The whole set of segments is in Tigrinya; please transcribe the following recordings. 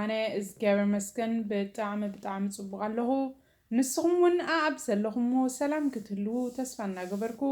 ኣነ እዝግኣብሔር ይመስገን ብጣዕሚ ብጣዕሚ ፅቡቅ ኣለኩ ንስኩም እውን ኣኣብ ዘለኩምዎ ሰላም ክትህልዉ ተስፋ እናገበርኩ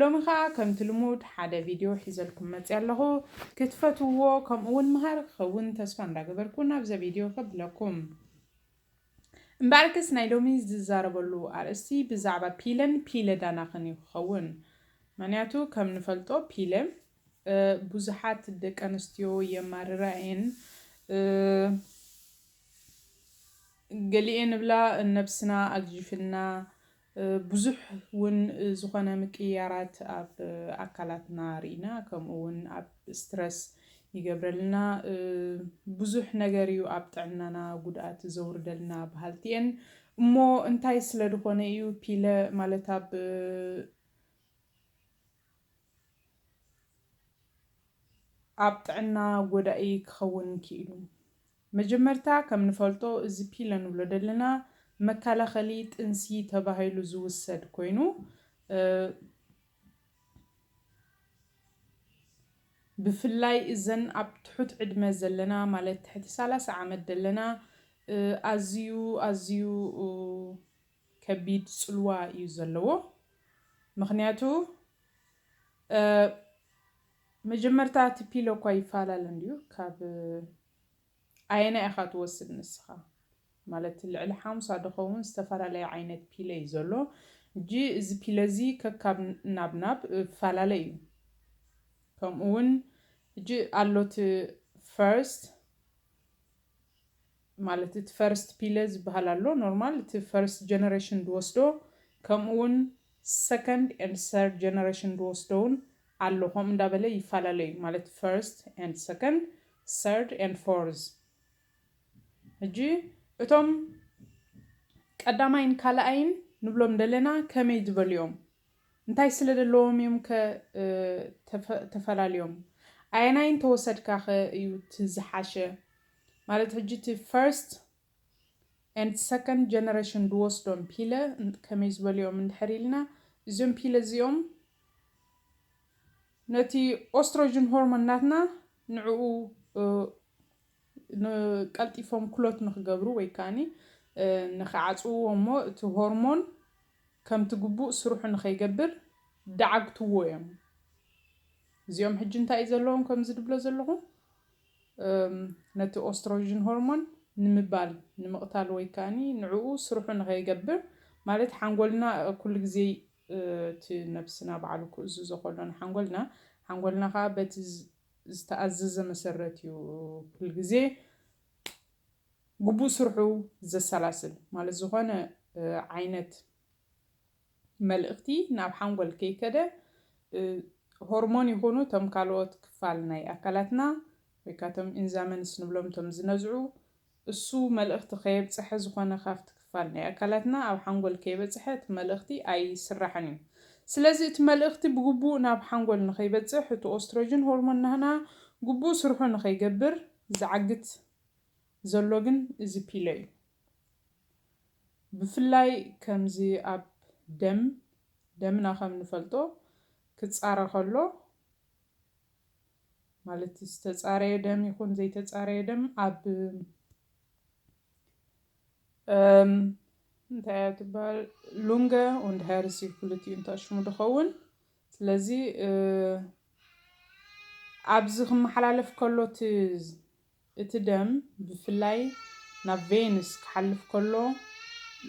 ሎሚ ከዓ ከምቲ ልሙድ ሓደ ቪድዮ ሒዘልኩም መፅያ ኣለኩ ክትፈትውዎ ከምኡ እውን መሃሪ ክከውን ተስፋ እንዳገበርኩ ናብዘ ቪድዮ ከብለኩም እምበኣርከስ ናይ ሎሚ ዝዛረበሉ ኣርእስቲ ብዛዕባ ፒለን ፒለ ዳናክን እዩ ክከውን ምክንያቱ ከም ንፈልጦ ፒለ ቡዙሓት ደቀንስትዮ የማርራ እየን ገሊኤን እብላ ነብስና ኣግዥፍልና ቡዙሕ ውን ዝኮነ ምቅይያራት ኣብ ኣካላትና ሪኢና ከምኡ ውን ኣብ ስትረስ ይገብረልና ቡዙሕ ነገር እዩ ኣብ ጥዕናና ጉድኣት ዘውርደልና በሃልቲ እየን እሞ እንታይ ስለድኮነ እዩ ፒለ ማለት ኣብ ኣብ ጥዕና ጎዳኢ ክኸውን ኪኢሉ። መጀመርታ ከም ንፈልጦ እዚ ፒለ ንብሎ ደለና መካላኸሊ ጥንሲ ተባሂሉ ዝውሰድ ኮይኑ ብፍላይ እዘን ኣብ ትሑት ዕድመ ዘለና ማለት ትሕቲ ሳላሳ ዓመት ደለና ኣዝዩ ኣዝዩ ከቢድ ጽልዋ እዩ ዘለዎ ምክንያቱ መጀመርታ እቲ ፒሎ እኳ ይፈላለ እንድዩ ካብ ኣየናይ ኢኻ ትወስድ ንስኻ ማለት ልዕሊ ሓሙሳ ድኸውን ዝተፈላለየ ዓይነት ፒለ እዩ ዘሎ እጂ እዚ ፒለ እዚ ከካብ ናብ ናብ ፈላለ እዩ ከምኡ እውን እጂ ኣሎት ፈርስት ማለት እቲ ፈርስት ፒለ ዝበሃል ኣሎ ኖርማል እቲ ፈርስት ጀነሬሽን ዝወስዶ ከምኡ ውን ሰከንድ ኤንድ ሰርድ ጀነሬሽን ዝወስዶ ውን ኣሎ ከምኡ እንዳበለ ይፈላለ ዩ ማለት ፈርስት ኤንድ ሰከንድ ሰርድ ኤንድ ፎርዝ ሕጂ እቶም ቀዳማይን ካልኣይን ንብሎም ደለና ከመይ ዝበሉ ዮም እንታይ ስለ ደለዎም ዮም ከ ተፈላልዮም ኣየናይ እንተወሰድካ ከ ዩ እቲ ዝሓሸ ማለት ሕጂ እቲ ፈርስት ኤንድ ሰከንድ ጀነረሽን ዝወስዶም ፒለ ከመይ ዝበሉ እዮም እንድሕር ኢልና እዚኦም ፒለ እዚኦም ነቲ ኦስትሮጅን ሆርሞን ናትና ንዕኡ ንቀልጢፎም ኩሎት ንክገብሩ ወይ ከዓኒ ንክዓፅውዎ እሞ እቲ ሆርሞን ከምቲ ግቡእ ስርሑ ንከይገብር ደዓግትዎ እዮም። እዚኦም ሕጂ እንታይ እዩ ዘለዎም ከምዚ ድብሎ ዘለኹ ነቲ ኦስትሮጅን ሆርሞን ንምባል፣ ንምቕታል ወይ ከኣ ንዕኡ ስርሑ ንኸይገብር፣ ማለት ሓንጎልና ኩሉ ግዜ እቲ ነብስና ባዕሉ ክእዝዞ ከሎ ንሓንጎልና፣ ሓንጎልና ከኣ በቲ ዝተኣዘዘ መሰረት እዩ ኩሉ ግዜ ግቡእ ስርሑ ዘሰላስል። ማለት ዝኾነ ዓይነት መልእኽቲ ናብ ሓንጎል ከይከደ ሆርሞን ይኹኑ እቶም ካልኦት ክፋል ናይ ኣካላትና ወይ ከኣ እቶም ኢንዛመንስ ንብሎም እቶም ዝነዝዑ እሱ መልእኽቲ ከየብጸሐ ዝኾነ ካብቲ ክፋል ናይ ኣካላትና ኣብ ሓንጎል ከይበጽሐ እቲ መልእኽቲ ኣይስራሕን እዩ። ስለዚ እቲ መልእኽቲ ብግቡእ ናብ ሓንጎል ንኸይበጽሕ እቲ ኦስትሮጅን ሆርሞን ናህና ግቡእ ስርሑ ንኸይገብር ዝዓግት ዘሎ ግን እዚ ፒለ እዩ። ብፍላይ ከምዚ ኣብ ደም ደምና ከም ንፈልጦ ክጻረ ከሎ ማለት ዝተጻረየ ደም ይኹን ዘይተጻረየ ደም ኣብ እንታይ እያ ትበሃል ሉንገ und Herz ክልቲኡ እንተሽሙ ድኸውን ስለዚ ኣብዚ ክመሓላለፍ ከሎ እቲ እቲ ደም ብፍላይ ናብ ቬንስ ክሓልፍ ከሎ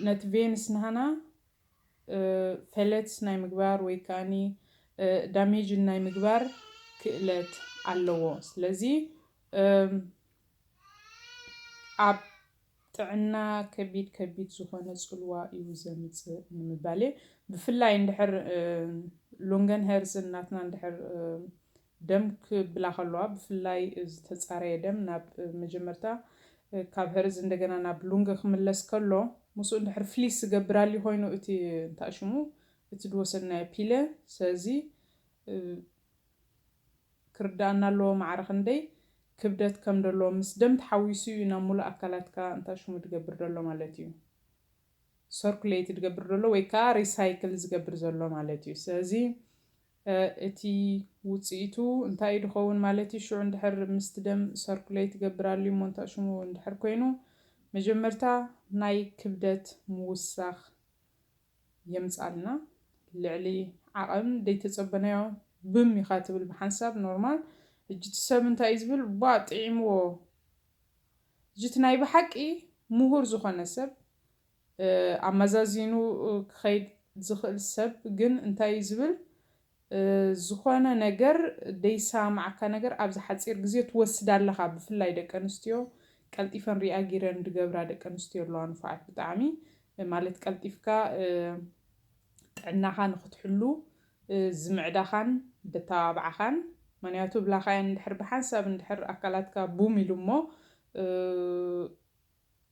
ነቲ ቬንስ ናህና ፌለትስ ናይ ምግባር ወይ ከኣኒ ዳሜጅን ናይ ምግባር ክእለት ኣለዎ። ስለዚ ኣብ ጥዕና ከቢድ ከቢድ ዝኾነ ጽልዋ እዩ ዘምጽእ ንምባል እየ። ብፍላይ እንድሕር ሉንገን ሄርዝን ናትና እንድሕር ደም ክብላ ከለዋ ብፍላይ ዝተጻረየ ደም ናብ መጀመርታ ካብ ሀርዝ እንደገና ናብ ሉንግ ክምለስ ከሎ ምስኡ እንድሕር ፍሊስ ዝገብር ኣልዩ ኮይኑ እቲ እንታይ ሽሙ እቲ ድወሰድናዮ ፒለ ሰዚ ክርዳኣና ኣለዎ ማዕረ ክንደይ ክብደት ከም ደሎ ምስ ደም ተሓዊሱ እዩ ናብ ሙሉእ ኣካላትካ እንታይ ሽሙ ድገብር ደሎ ማለት እዩ ሰርኩሌት ድገብር ደሎ ወይ ከኣ ሪሳይክል ዝገብር ዘሎ ማለት እዩ ሰዚ እቲ ውጽኢቱ እንታይ እዩ ድኸውን ማለት እዩ? ሽዑ እንድሕር ምስቲ ደም ሰርኩለይ ትገብር ኣልዩ እሞ እንታይ ሽሙ እንድሕር ኮይኑ መጀመርታ ናይ ክብደት ምውሳኽ የምጻልና ልዕሊ ዓቐን ደይተጸበናዮ ብም ኢኻ ትብል ብሓንሳብ ኖርማል እጂ እቲ ሰብ እንታይ እዩ ዝብል ቧእ ጢዒምዎ እጂ እቲ ናይ ብሓቂ ሙሁር ዝኾነ ሰብ ኣመዛዚኑ ክኸይድ ዝኽእል ሰብ ግን እንታይ እዩ ዝብል፣ ዝኾነ ነገር ደይሰማማዓካ ነገር ኣብዚ ሓጺር ግዜ ትወስዳ ኣለኻ፣ ብፍላይ ደቂ ኣንስትዮ ቀልጢፈን ሪኣጊረን ድገብራ ደቂ ኣንስትዮ ኣለዋ ንፉዓት ብጣዕሚ ማለት ቀልጢፍካ ጥዕናኻ ንኽትሕሉ ዝምዕዳኻን ደተባብዓኻን ምክንያቱ ብላኻየን እንድሕር ብሓንሳብ እንድሕር ኣካላትካ ቡም ኢሉ እሞ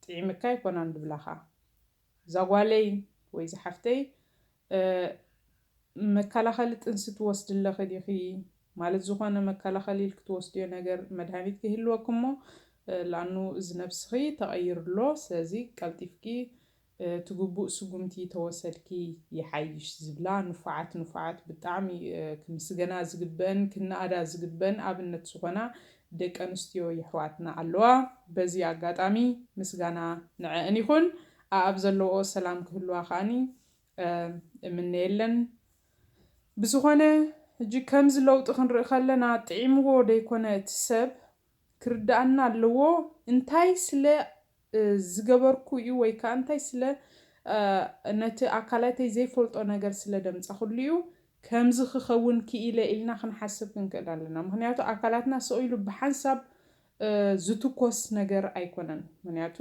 ጢዒምካ ኣይኮናን ድብላኻ ዛጓለይ ወይ ዛሓፍተይ መካላኸሊ ጥንሲ ትወስዲ ኣለኺ ዲኺ ማለት ዝኾነ መካላኸሊ ኢልኪ ትወስድዮ ነገር መድሃኒት ክህልወኪ እሞ ላኣኑ እዚ ነብስኺ ተቐይሩ ኣሎ ስለዚ ቀልጢፍኪ እቲ ግቡእ ስጉምቲ ተወሰድኪ ይሓይሽ ዝብላ ንፉዓት ንፉዓት ብጣዕሚ ክምስገና ዝግበእን ክነኣዳ ዝግበእን ኣብነት ዝኾና ደቂ ኣንስትዮ የሕዋትና ኣለዋ በዚ ኣጋጣሚ ምስጋና ንዐኣን ይኹን ኣኣብ ዘለውኦ ሰላም ክህልዋ ከኣ እምነየለን ብዝኾነ ሕጂ ከምዚ ለውጢ ክንርኢ ከለና ጥዒምዎ ደይኮነ እቲ ሰብ ክርድኣና ኣለዎ እንታይ ስለ ዝገበርኩ እዩ ወይ ከኣ እንታይ ስለ ነቲ ኣካላተይ ዘይፈልጦ ነገር ስለ ደምጻኹሉ እዩ ከምዚ ክኸውን ክኢለ ኢልና ክንሓስብ ክንክእል ኣለና ምኽንያቱ ኣካላትና ስቕ ኢሉ ብሓንሳብ ዝትኮስ ነገር ኣይኮነን ምኽንያቱ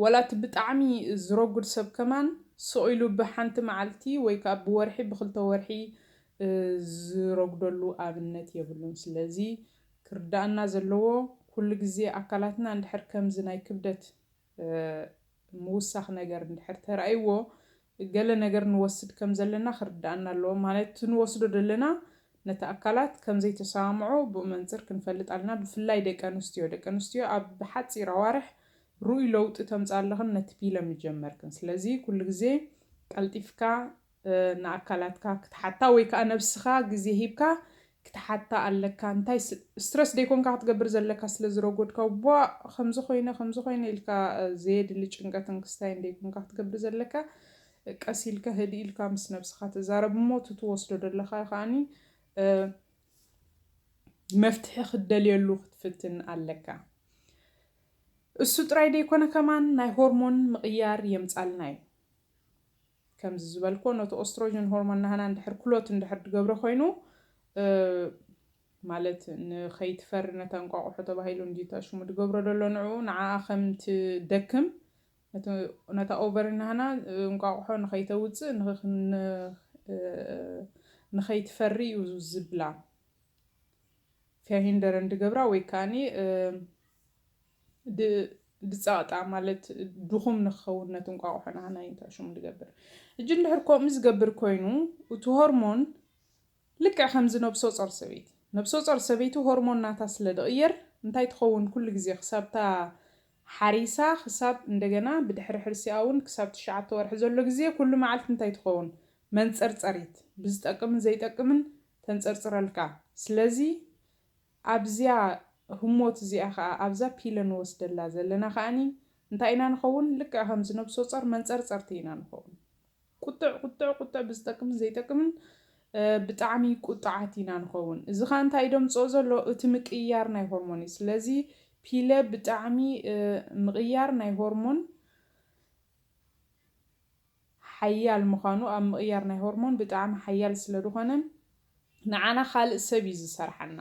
ወላ እቲ ብጣዕሚ ዝረጉድ ሰብ ከማን ስቕ ኢሉ ብሓንቲ መዓልቲ ወይ ከኣ ብወርሒ ብኽልተ ወርሒ ዝረጉደሉ ኣብነት የብሉን። ስለዚ ክርደኣና ዘለዎ ኩሉ ግዜ ኣካላትና እንድሕር ከምዚ ናይ ክብደት ምውሳኽ ነገር እንድሕር ተራእይዎ ገለ ነገር ንወስድ ከም ዘለና ክርድኣና ኣለዎ። ማለት እቲ ንወስዶ ዘለና ነቲ ኣካላት ከም ዘይተሰማምዖ ብኡ መንጽር ክንፈልጥ ኣለና። ብፍላይ ደቂ ኣንስትዮ ደቂ ኣንስትዮ ኣብ ሓጺር ኣዋርሕ ርኡይ ለውጢ ተምጽኣ ኣለኽን ነቲ ፒለ ምጀመርክን። ስለዚ ኩሉ ግዜ ቀልጢፍካ ንኣካላትካ ክትሓታ ወይ ከኣ ነብስኻ ግዜ ሂብካ ክትሓታ ኣለካ እንታይ ስትረስ ደይኮንካ ክትገብር ዘለካ ስለ ዝረጎድካ ቧእ ከምዚ ኮይነ ከምዚ ኮይነ ኢልካ ዘየድሊ ጭንቀትን ክስታይን ደይኮንካ ክትገብር ዘለካ ቀስ ኢልካ ህድእ ኢልካ ምስ ነብስካ ትዛረብ እሞ እቲ ትወስዶ ዘለካ ከኣኒ መፍትሒ ክትደልየሉ ክትፍትን ኣለካ እሱ ጥራይ ደይኮነ ከማን ናይ ሆርሞን ምቕያር የምጻልና እዩ። ከምዚ ዝበልክዎ ነቲ ኦስትሮጅን ሆርሞን ናህና እንድሕር ክሎት እንድሕር ድገብሮ ኮይኑ ማለት ንኸይትፈሪ ነታ እንቋቑሖ ተባሂሉ እንድዩ እቲ ሽሙ ድገብሮ ደሎ ንዕኡ ንዓኣ ከም ትደክም ነቲ ነታ ኦቨሪ ናህና እንቋቑሖ ንኸይተውጽእ ንኸይትፈሪ እዩ ዝብላ ፊያሂንደረን ድገብራ ወይ ከኣኒ ድ ድጸቕጣ ማለት ድኹም ንክኸውን ነቲ እንቋቑሖ ንሃናይ እንታይ ሽሙ ድገብር። ሕጂ እንድሕር ኮምኡ ዝገብር ኮይኑ እቱ ሆርሞን ልክዕ ከምዚ ነብሶጾር ሰበይቲ ነብሶጾር ሰበይቲ ሆርሞን ናታ ስለ ድቕየር እንታይ ትኸውን ኩሉ ግዜ ክሳብታ ሓሪሳ ክሳብ እንደገና ብድሕሪ ሕርሲኣ ውን ክሳብ ትሽዓተ ወርሒ ዘሎ ግዜ ኩሉ መዓልቲ እንታይ ትኸውን መንጸርጸሪት ብዝጠቅምን ዘይጠቅምን ተንጸርጽረልካ ስለዚ ኣብዚኣ ህሞት እዚኣ ከኣ ኣብዛ ፒለ ንወስደላ ዘለና ከኣኒ እንታይ ኢና ንኸውን ልክዕ ከምዚ ነብሶጸር መንጸርጸርቲ ኢና ንኸውን ቁጥዕ ቁጥዕ ቁጥዕ ብዝጠቅምን ዘይጠቅምን ብጣዕሚ ቁጥዓት ኢና ንኸውን እዚ ከኣ እንታይ እዩ ደምጽኦ ዘሎ እቲ ምቅይያር ናይ ሆርሞን እዩ ስለዚ ፒለ ብጣዕሚ ምቕያር ናይ ሆርሞን ሓያል ምዃኑ ኣብ ምቕያር ናይ ሆርሞን ብጣዕሚ ሓያል ስለድኾነ ንዓና ካልእ ሰብ እዩ ዝሰርሓና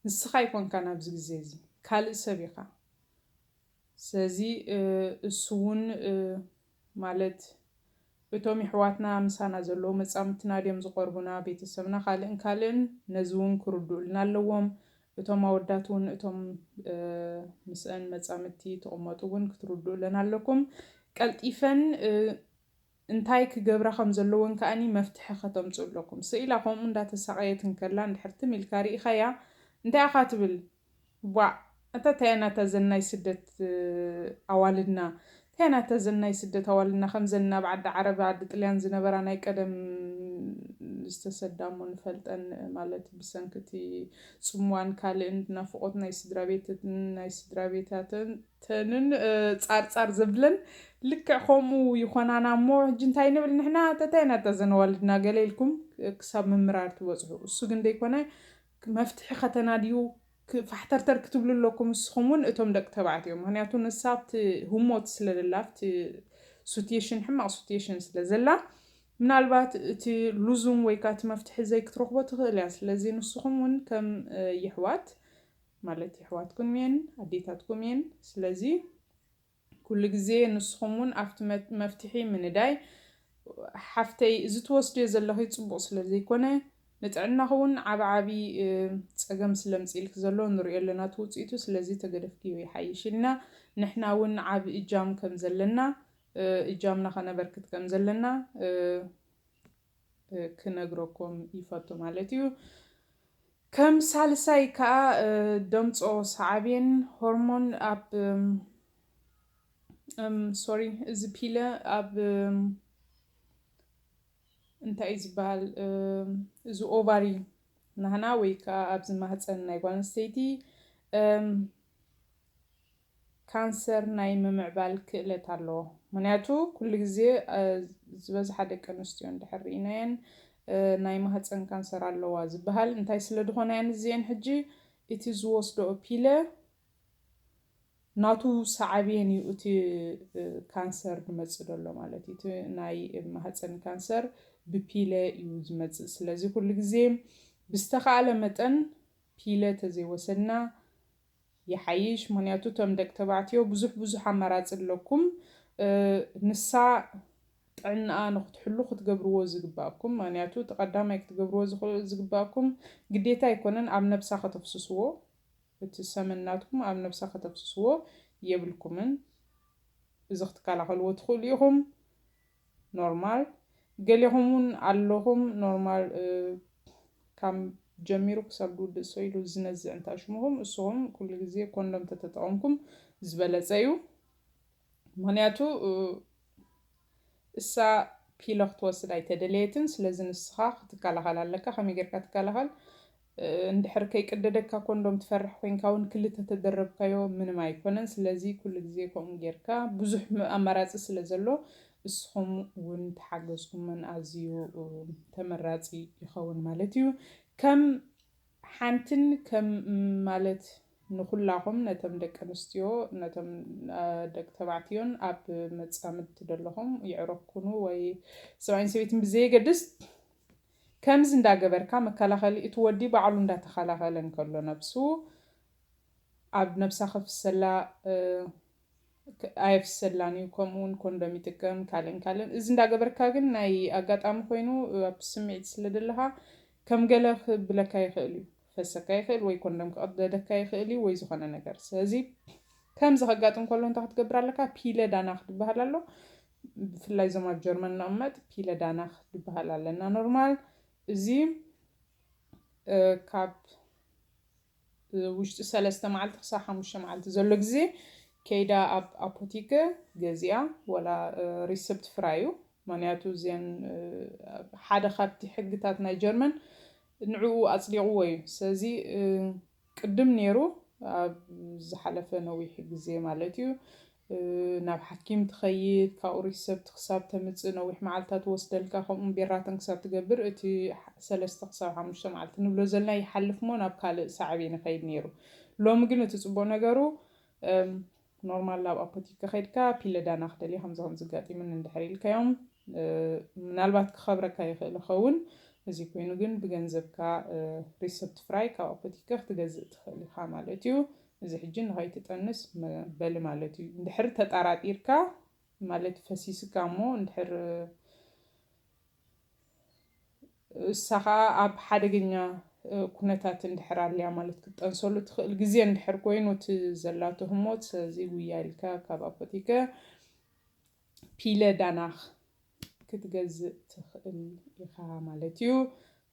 ንስኻ ኣይኮንካን ኣብዚ ግዜ እዚ ካልእ ሰብ ኢኻ ስለዚ እሱ ውን ማለት እቶም ይሕዋትና ምሳና ዘለዉ መጻምድትና ድዮም ዝቐርቡና ቤተሰብና ካልእን ካልእን ነዚ ውን ክርድኡልና ኣለዎም እቶም ኣወዳት ውን እቶም ምስእን መጻምድቲ ትቅመጡ ውን ክትርዱኡለን ኣለኩም ቀልጢፈን እንታይ ክገብራ ከም ዘለወን ከኣ መፍትሒ ከተምጽኡ ኣለኩም ሰኢላ ከምኡ እንዳ ተሳቀየት እንከላ እንድሕር ትም ኢልካ ሪኢካያ እንታይ ኢካ ትብል ዋእ ኣታ ታይያ ናታ ዘን ናይ ስደት ኣዋልድና እንታይ ናተ ዘናይ ስደት ኣዋልና ከምዘን ናብ ዓዲ ዓረብ ዓዲ ጥልያን ዝነበራ ናይ ቀደም ዝተሰዳ እሞ ንፈልጠን ማለት ብሰንኪ እቲ ጽምዋን ካልእን ናፍቆት ናይ ስድራቤተትን ናይ ስድራቤታተንን ጻር ጻር ዘብለን ልክዕ ከምኡ ይኮናና እሞ ሕጂ እንታይ ንብል ንሕና ተታይ ናተ ዘን ኣዋልድና ገለ ኢልኩም ክሳብ ምምራር ትበጽሑ እሱ ግን ደይኮነ መፍትሒ ከተናድዩ ፋሕተርተር ክትብሉ ኣለኩም ንስኩም ውን እቶም ደቂ ተባዕትዮ ምክንያቱ ንሳ ኣብቲ ህሞት ስለ ዘላ ኣብቲ ሱትየሽን ሕማቅ ሱትየሽን ስለ ዘላ ምናልባት እቲ ሉዙም ወይ ከኣ እቲ መፍትሒ ዘይ ክትረክቦ ትክእል እያ ስለዚ ንስኩም ውን ከም የሕዋት ማለት የሕዋትኩም እየን ኣዴታትኩም እየን ስለዚ ኩሉ ግዜ ንስኹም ውን ኣብቲ መፍትሒ ምንዳይ ሓፍተይ እዚ ትወስድዮ ዘለኺ ጽቡቕ ስለ ዘይኮነ ንጥዕናኺ ውን ዓቢ ዓቢ ጸገም ስለ ምጺኢልኪ ዘሎ ንሪኦ ኣለና እቲ ውጽኢቱ ስለዚ ተገደፍክዮ ይሓይሽ ኢልና ንሕና ውን ዓቢ እጃም ከም ዘለና እጃምና ከነበርክት ከም ዘለና ክነግረኩም ይፈቱ ማለት እዩ። ከም ሳልሳይ ከኣ ደምጾ ሰዓቤን ሆርሞን ኣብ እም ሶሪ እዚ ፒለ ኣብ እንታይ እዩ ዝበሃል እዚ ኦቫሪ ናህና ወይ ከዓ ኣብዚ ማህፀን ናይ ጓል ኣንስተይቲ ካንሰር ናይ ምምዕባል ክእለት ኣለዎ ምክንያቱ ኩሉ ግዜ ዝበዝሓ ደቂ ኣንስትዮ እንድሕር ርኢናየን ናይ ማህጸን ካንሰር ኣለዋ ዝብሃል እንታይ ስለ ድኮናየን እዚኤን ሕጂ እቲ ዝወስድኦ ፒለ ናቱ ሳዓብየን እዩ እቲ ካንሰር ድመጽእ ደሎ ማለት እዩ እቲ ናይ ማህጸን ካንሰር ብፒለ እዩ ዝመጽእ ስለዚ ኩሉ ግዜ ብዝተካእለ መጠን ፒለ ተዘይወሰድና ይሓይሽ ምክንያቱ እቶም ደቂ ተባዕትዮ ብዙሕ ብዙሕ ኣማራጺ ኣለኩም ንሳ ጥዕናኣ ንክትሕሉ ክትገብርዎ ዝግባኣኩም ምክንያቱ እቲ ቀዳማይ ክትገብርዎ ዝግባኣኩም ግዴታ ኣይኮነን ኣብ ነብሳ ከተፍስስዎ እቲ ሰመን ናትኩም ኣብ ነብሳ ከተፍስስዎ የብልኩምን እዚ ክትከላከልዎ ትክእሉ ኢኩም። ኖርማል ገሌኹም ውን ኣለኹም ኖርማል ካም ጀሚሩ ክሳብ ድውድእ ሶይሉ ዝነዝዕ እንታ ሽሙኹም እሱኹም ኩሉ ግዜ ኮንዶም ተተጠቐምኩም ዝበለጸ እዩ ምክንያቱ እሳ ፒለ ክትወስድ ኣይተደለየትን ስለዚ ንስኻ ክትከላኸል ኣለካ ከመይ ጌርካ ትከላኸል እንድሕር ከይቅደደካ ኮንዶም ትፈርሕ ኮይንካ ውን ክልተ ተደረብካዮ ምንም ኣይኮነን ስለዚ ኩሉ ግዜ ከምኡ ጌርካ ብዙሕ ኣማራጺ ስለ ዘሎ እስኹም ውን ተሓገዝኩመን ኣዝዩ ተመራጺ ይኸውን ማለት እዩ ከም ሓንትን ከም ማለት ንኹላኹም ነተም ደቂ ኣንስትዮ ነቶም ደቂ ተባዕትዮን ኣብ መጻምድቲ ደለኹም የዕሩኽ ኩኑ ወይ ሰብኣይን ሰበይትን ብዘየገድስ ከምዚ እንዳገበርካ መከላኸሊ እቲ ወዲ ባዕሉ እንዳተኸላኸለ እንከሎ ነብሱ ኣብ ነብሳ ከፍሰላ ኣየፍሰላን እዩ ከምኡውን ኮንዶም ይጥቀም ካልእን ካልእን እዚ እንዳገበርካ ግን ናይ ኣጋጣሚ ኮይኑ ኣብ ስምዒት ስለ ዘለኻ ከም ገለ ክብለካ ይኽእል እዩ ክፈሰካ ይኽእል ወይ ኮንደም ክቕደደካ ይኽእል እዩ ወይ ዝኾነ ነገር ስለዚ ከምዚ ከጋጥም ከሎ እንታይ ክትገብር ኣለካ ፒለ ዳናክ ዝበሃል ኣሎ ብፍላይ እዞም ኣብ ጀርመን ንቕመጥ ፒለ ዳናክ ዝበሃል ኣለና ኖርማል እዚ ካብ ውሽጢ ሰለስተ መዓልቲ ክሳብ ሓሙሽተ መዓልቲ ዘሎ ግዜ ከይዳ ኣብ ኣፖቲከ ገዚኣ ወላ ሪሰፕት ፍራዩ ምክንያቱ እዚን ሓደ ካብቲ ሕግታት ናይ ጀርመን ንዕኡ ኣጽዲቕዎ እዩ። ስለዚ ቅድም ኔሩ ኣብ ዝሓለፈ ነዊሕ ግዜ ማለት እዩ ናብ ሓኪም ትኸይድ፣ ካብኡ ሪሰብት ክሳብ ተምጽእ ነዊሕ መዓልትታት ይወስደልካ፣ ከምኡውን ቤራተን ክሳብ ትገብር እቲ ሰለስተ ክሳብ ሓሙሽተ መዓልቲ ንብሎ ዘለና ይሓልፍሞ ናብ ካልእ ሳዕቤን ይኸይድ ኔሩ። ሎሚ ግን እቲ ጽቡቕ ነገሩ ኖርማል ናብ ኣፖቲካ ከይድካ ፒለ ዳና ክደልየ ከምዚ ከምዚ ኣጋጢሙኒ እንድሕር ኢልካዮም ምናልባት ክከብረካ ይክእል ይከውን እዚ ኮይኑ ግን ብገንዘብካ ሪሰብት ፍራይ ካብ ኣፖቲካ ክትገዝእ ትክእል ኢካ ማለት እዩ እዚ ሕጂ ንከይትጠንስ መበሊ ማለት እዩ እንድሕር ተጣራጢርካ ማለት ፈሲስካ እሞ እንድሕር እሳ ከኣ ኣብ ሓደገኛ ኩነታት እንድሕር ኣልያ ማለት ክትጠንሰሉ ትኽእል ግዜ እንድሕር ኮይኑ እቲ ዘላቶ ህሞት ስለዚ ጉያ ኢልካ ካብ ኣፖቲከ ፒለ ዳናኽ ክትገዝእ ትኽእል ኢኻ ማለት እዩ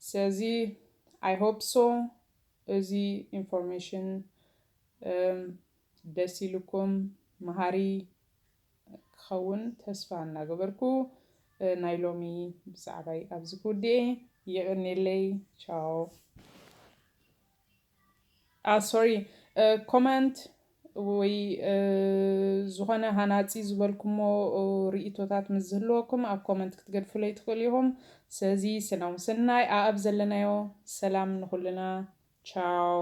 ስለዚ ኣይ ሆፕ ሶ እዚ ኢንፎርሜሽን ደስ ኢሉኩም መሃሪ ክኸውን ተስፋ እናገበርኩ ናይ ሎሚ ብዛዕባይ ኣብዚ ክውድኤ የቐኔለይ ቻው ኣ ሶሪ ኮመንት ወይ ዝኾነ ሃናፂ ዝበልኩሞ ርእቶታት ምስ ዝህልወኩም ኣብ ኮመንት ክትገድፉለይ ትኽእሉ ኢኹም ስለዚ ስናው ስናይ ኣኣብ ዘለናዮ ሰላም ንኹልና ቻው